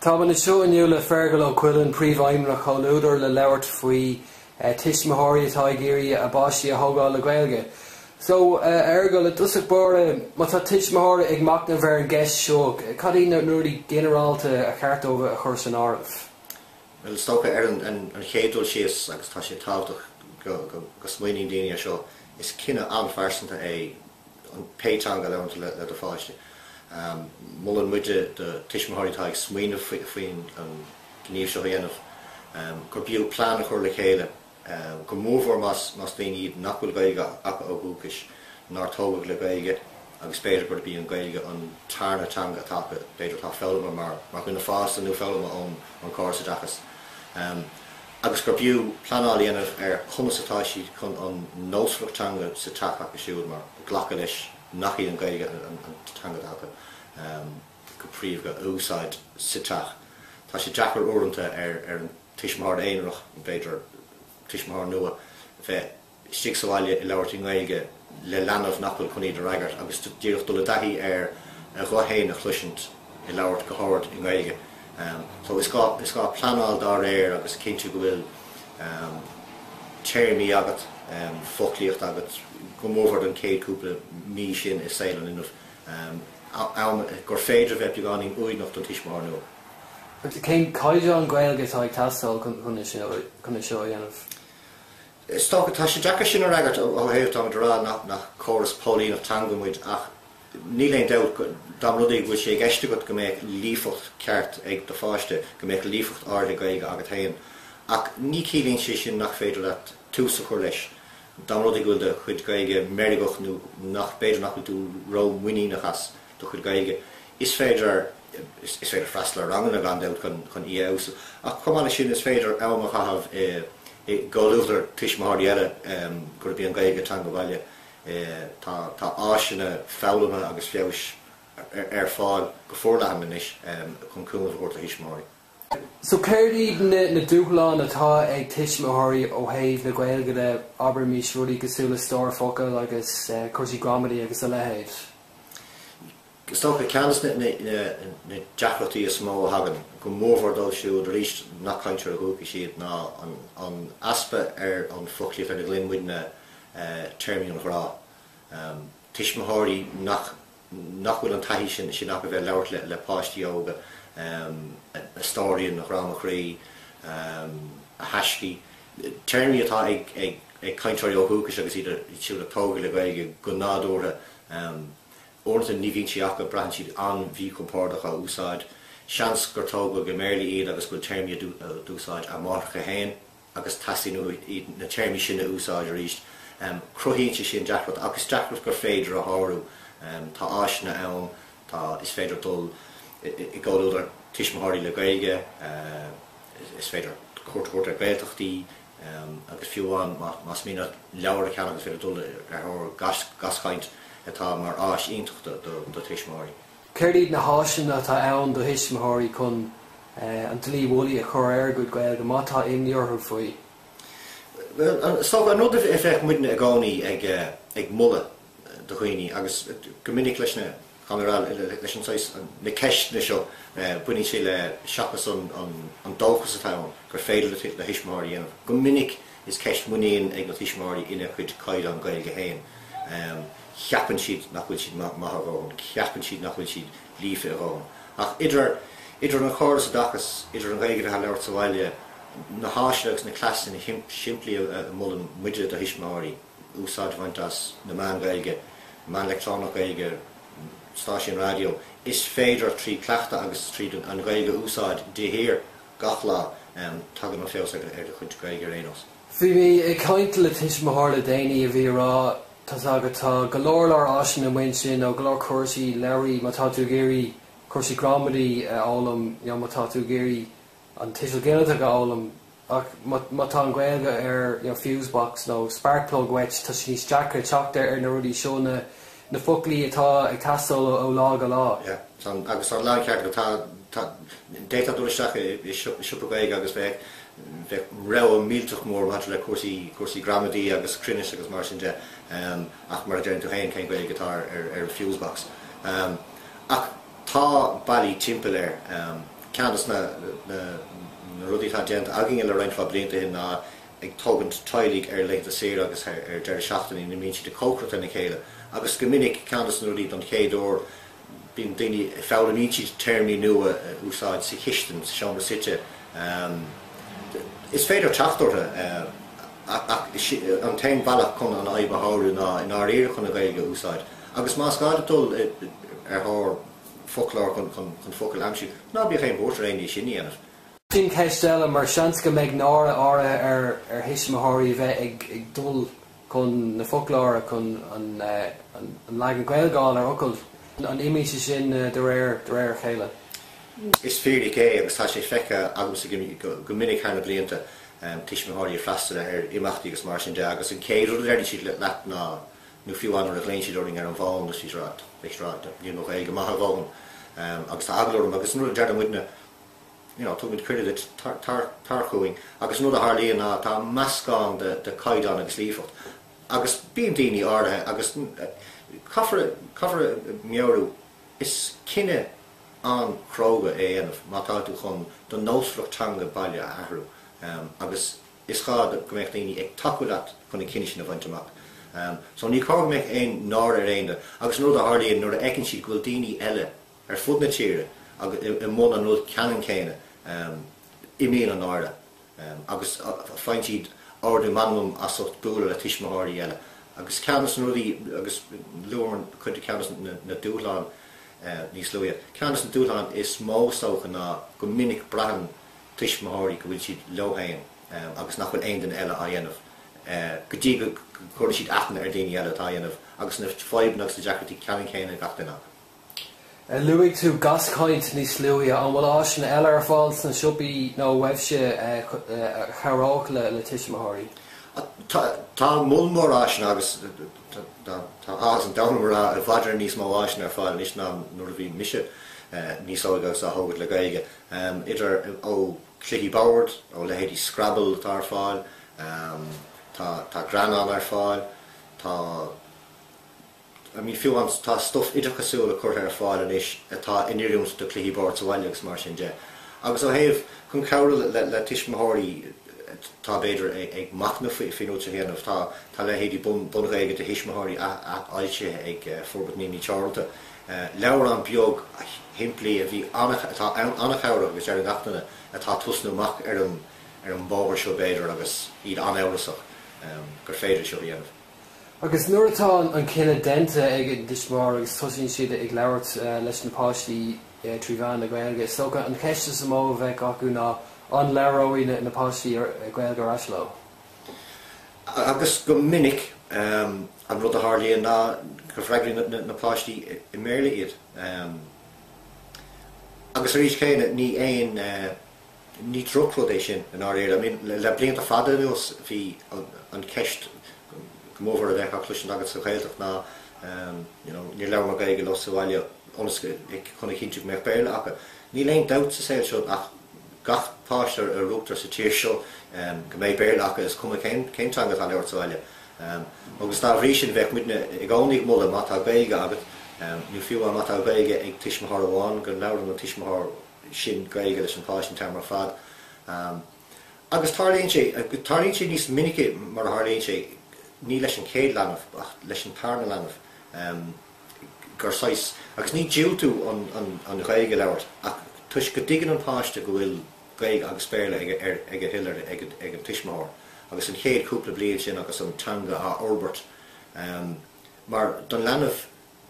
Táim anseo inniu le Feargal Ó Cuilinn, Príomhfheidhmeannach Chomhluadar, le labhairt faoi tuismitheoirí atá ag iarraidh a bpáistí a thógáil le Gaeilge. So, Feargal, i dtosach báire, má tá tuismitheoirí ag machnamh ar an gceist seo, cad iad na rudaí ginearálta ar cheart dóibh a chur san áireamh? Bhuel, is dócha, ar an chéad dul síos, agus tá sé tábhachtach go smaoiníonn daoine ar seo, is cinneadh an-phearsanta é, pé teanga a labhraíonn tú le do pháiste. Molann muid do tuismitheoirí atá ag smaoineamh faoin an gníomh seo a dhéanamh gurbh fhiú plean a chur le chéile, go mór mór más daoine iad nach bhfuil Gaeilge acu ó dhúchas, nár tógadh le Gaeilge agus b'fhéidir gurb í an Ghaeilge an tarna teanga atá acu, b'fhéidir atá foghlamtha mar dhuine fásta nó foghlamtha ón córas oideachais. agus gurbh fhiú pleanáil a dhéanamh ar conas atá siad chun an nósmhaireacht teanga sa teach acu siúd má ghlactar leis nach í an Ghaeilge an teanga atá acu go príomha a úsáid sa teach. Tá sé deacair uaireanta ar an tuismitheoir aonarach, b'fhéidir tuismitheoir nua, bheith. istigh sa bhaile ag labhairt i nGaeilge le leanbh nach bhfuil chun iad a fhreagairt agus díreach dul i dtaithí ar a ghuth féin a chloisint ag labhairt os ard i nGaeilge. So is gá is gá pleanáil dá réir agus cinntiú go bhfuil téarmaí agat, foclaíocht agat go mór mór don chéad cúpla mí sin i saol an linbh, am gur féidir a bheith beagáinín uaigneach don tuismitheoir nua. Cén caighdeán Gaeilge atá ag teastáil chun é seo a dhéanamh? Is dócha, tá sé deacair sin a fhreagairt ó thaobh, táimid ag rá nach córas póilíneachta teanga muid ach níl aon dabht go, dá mba rud é go bhfuil sé i gceist agat go mbeadh líofacht cheart ag do pháiste, go mbeadh líofacht áirithe Gaeilge agat féin. Ach ní chiallaíonn sé sin nach féidir leat tús a chur leis, dá mba rud é go bhfuil do chuid Gaeilge meirgeach nó nach, b'fhéidir nach bhfuil tú rómhuiníneach as. do chuid Gaeilge. Is féidir Is féidir freastal ar ranganna, gan dabht, chun í a fheabhsú. Ach chomh maith leis sin, is féidir am a chaitheamh i i gcomhluadar tuismitheoirí eile gurb í an Ghaeilge a teanga bhaile. Tá áiseanna foghlama agus feabhais ar fáil go forleathan anois chun cúnamh a thabhairt do thuismitheoirí. So céard iad na na dúshláin atá ag tuismitheoirí ó thaobh na Gaeilge de, abraimis rudaí cosúil le stór focal agus cúrsaí gramadaí agus a leithéid? Is dócha ceann de na na deacrachtaí is mó a thagann go mór mór dóibh siúd arís nach cainteoirí dúchais iad ná an an easpa ar an foclaíocht ar a nglaonn muidne téarmaí an ghrá. Tuismitheoirí nach. nach bhfuil an taithí sin sin acu bheith ag labhairt le le páistí óga a stóirín a ghrá mo chroí a thaisce téarmaí atá ag ag ag cainteoirí ó dhúchais agus iad siúd a tógadh le Gaeilge go nádúrtha uaireanta ní bhíonn siad acu braitheann siad an-mhíchompordach á n-úsáid seans gur tógadh go mBéarla iad agus go bhfuil téarmaí a d'úsáid a máithreacha féin agus teastaíonn uathu na téarmaí sin a úsáid arís, cruthaíonn sé sin deacracht, ach is deacracht gur féidir a shárú. Tá áiseanna ann, tá, is féidir dul i gcomhluadar tuismitheoirí le Gaeilge, is féidir cuairt a thabhairt ar Ghaeltachtaí, agus fiú amháin más mian leat leabhar a cheannach is féidir dul ar thóir Gaschaint atá mar áis iontach do tuismitheoirí. Céard iad na háiseanna atá ann do thuismitheoirí chun an dlaoi mhullaigh a chur ar a gcuid Gaeilge, má tá imní orthu faoi? Is dócha an rud a bheadh muidne i gcónaí ag moladh do dhaoine, agus go minic leis na ceisteanna seo, baineann sé le seachas an dóchas atá ann gur féidir le tuismitheoirí dhéanamh go minic, is ceist muinín ag na tuismitheoirí ina gcuid caighdeán Gaeilge féin. ceapann siad nach bhfuil siad maith a dhóthain, ceapann siad nach bhfuil siad líofa a dhóthain. Ach idir idir an chóras oideachais, idir an Ghaeilge atá á labhairt sa bhaile, na háiseanna agus na cleasanna simplí a mholann muide do thuismitheoirí, úsáid a bhaint as na meáin Ghaeilge, meáin leictreonach Ghaeilge, stáisiúin raidió, is féidir trí chleachtadh agus tríd an Ghaeilge a úsáid de shíor, gach lá, tagann an feabhas ar do chuid Gaeilge ar aon nós. Bhí mé ag caint le tuismitheoir le déanaí a bhí ag rá. Tá a fhios agat. Tá go leor leor áiseanna amuigh ansin ó go leor cúrsaí, leabhra má tá tú ag iarraidh cúrsaí gramadaí a fhoghlaim nó má tá tú ag iarraidh an tuiseal ginideach a fhoghlaim. Ach má tá an Ghaeilge ar fuse box nó spark plug uait, tá sé níos deacra teacht ar na rudaí seo, na foclaí atá ag teastáil ó lá go lá. Sea, tá, agus tá a lán ceart agat. Tá, tá, d'fhéadfá dul isteach i siopa Gaeilge agus bheith bheadh rogha millteach mór maidir le cúrsaí, cúrsaí gramadaí agus cruinnis agus mar sin de, ach mar a deireann tú féin, cén Ghaeilge atá ar an fuse box? Ach tá bealaí timpeall air. Ceann dos na, na, na rudaí atá déanta againne le roinnt blianta ó shin ná ag tógaint teaghlaigh ar laethanta saoire agus ar deireadh seachtainí ina mbíonn siad ag cócaireacht lena chéile agus go minic, ceann dos na rudaí don chéad uair, Bíonn daoine ag foghlaim maidir le téarmaí nua a úsáid sa chistin, sa seomra suite. Is féidir teacht orthu, ach is é an t-aon bhealach chun an fhadhb a shárú ná i ndáiríre chun an Ghaeilge a úsáid. Agus más gá duit dul ar thóir foclóir chun focail a aimsiú, ná bíodh aon bhuairt ar éinne é sin a dhéanamh. Sin ceist eile, mar seans go mbeidh náire áirithe ar thuismitheoirí a bheith ag dul. chun na foclóra, chun an leagan Gaeilgeáil ar fhocail, an imíonn sé sin de réir a chéile? Is fíric é, agus tá sé feicthe agamsa go minic thar na blianta, tuismitheoirí ag freastal ar imeachtaí agus mar sin de, agus an chéad rud a deireann siad leat ná, nó fiú amháin nuair a ghlaonn siad orainn ar an bhfón agus siad ag rá, níl mo Ghaeilge maith a dhóthain, agus tá eagla orm, agus an rud a deireann muidne, you know tugaimid cuireadh duit tar chugainn agus an rud a tharlaíonn ná tá meascán de caighdeán agus líofacht agus bíonn daoine áirithe agus caithfear caithfear a mheabhrú is cinneadh an-chróga é a dhéanamh má tá tú chun do nósmhaireacht teanga baile a athrú agus is gá go mbeadh daoine ag tacú leat chun an cinneadh sin a bhaint amach so ní cóir go mbeadh aon náire ar aon duine agus an rud a tharlaíonn nuair a fheiceann siad go bhfuil daoine eile ar fud na tíre i mbun an rud ceannann céanna imíonn an náire agus faigheann siad ardú meanmam as ucht bualadh le tuismitheoirí eile agus ceann de na rudaí agus luamar chuid ceann de na dúshláin níos luaithe ceann de na dúshláin is mó is dócha ná go minic braitheann tuismitheoirí go bhfuil siad leo féin agus nach bhfuil aon duine eile á dhéanamh go dtí go gcuireann siad aithne ar dhaoine eile atá á dhéanamh agus na fadhbanna agus na deacrachtaí ceannann céanna ag gach duine acu. Luaigh tú Gaschaint níos luaithe? An bhfuil áiseanna eile ar fáil sna siopaí nó uaibhse a chabhródh le tuismitheoirí? Tá moll mór áiseanna agus tá áthas an domhain orm a rá i bhfad Éireann níos mó áiseanna ar fáil anois ná nuair a bhí mise níos óige agus á thógaint le Gaeilge. Idir, ó, cluichí boird, ó leithéidí Scrabble atá ar fáil, tá greannán ar fáil, tá. I mean fiú amháin tá stuif oideachasúil curtha ar fáil anois atá in oiriúint do chluichí boird sa bhaile agus mar sin de. Agus ó thaobh chun cabhrú le tuismitheoirí atá, b'fhéidir, ag machnamh faoi seo a dhéanamh, tá tá leithéidí BunGhaeilge do Thuismitheoirí athfhoilsithe ag Forbairt Naíonraí Teoranta. Leabhrán beag simplí a bhíonn an-chabhrach agus ar gach éinne atá tosnú amach ar an ar an mbóthar seo, b'fhéidir, agus iad an-amhrasach, gur féidir seo a dhéanamh. Agus nuair atá an cinneadh déanta ag an dtuismitheoir agus tosaíonn siad ag labhairt leis na páistí trí mheán na Gaeilge, is dócha an cheist is mó a bheadh acu ná, an labhróidh na páistí Gaeilge ar ais leo? Agus go minic an rud a tharlaíonn ná go bhfreagraíonn na páistí i mBéarla iad. Agus arís chéanna, ní aon Ní drochrud é sin i ndáiríre. I mean, le blianta fada anuas bhí an cheist go mórmhór a bheadh á cloisint agat sa Ghaeltacht ná you know níor labhair mé Gaeilge leo sa bhaile ionas go, like, chun a chinntiú go mbeadh Béarla acu. Níl aon dabht sa saol seo ach gach páiste a rugtar sa tír seo go mbeidh Béarla acu is cuma cén teanga atá á labhairt sa bhaile. Agus dá bhrí sin bheadh muidne i gcónaí ag moladh má tá Gaeilge agat, nó fiú má tá Gaeilge ag tuismitheoir amháin go labhrann an tuismitheoir sin Gaeilge leis an páiste an t-am ar fad, agus tarlaíonn sé, tarlaíonn sé níos minice mar a tharlaíonn sé, ní leis an chéad leanbh ach leis an tarna leanbh, gur saghas, agus ní diúltú an Ghaeilge a labhairt ach toisc go dtuigeann an páiste go bhfuil Gaeilge agus Béarla ag a thuill er ag an tuismitheoir, agus an chéad cúpla bliain sin agus an teanga á fhorbairt, mar don leanbh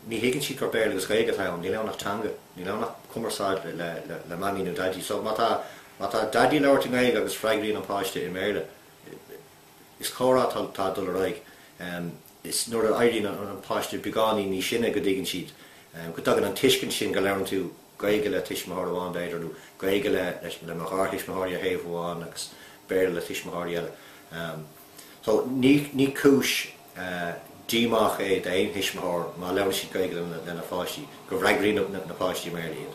Ní thuigeann siad gur Béarla agus Gaeilge atá ann. Níl ann ach teanga. Níl ann ach cumarsáid le Mamaí nó Daidí. So má tá má tá Daidí ag labhairt i nGaeilge agus freagraíonn an páiste i mBéarla, is comhrá atá atá ag dul ar aghaidh. Is nuair a éiríonn an an páiste beagáinín níos sine go dtuigeann siad, go dtagann an tuiscint sin go labhrann tú Gaeilge le tuismitheoir amháin b'fhéidir, nó Gaeilge le leis le mo gharthuismitheoirí ar thaobh amháin agus Béarla le tuismitheoirí eile. So, ní cúis díomá é d'aon thuismitheoir má labhrann siad Gaeilge lena pháistí, go bhfreagraíonn na páistí i mBéarla iad.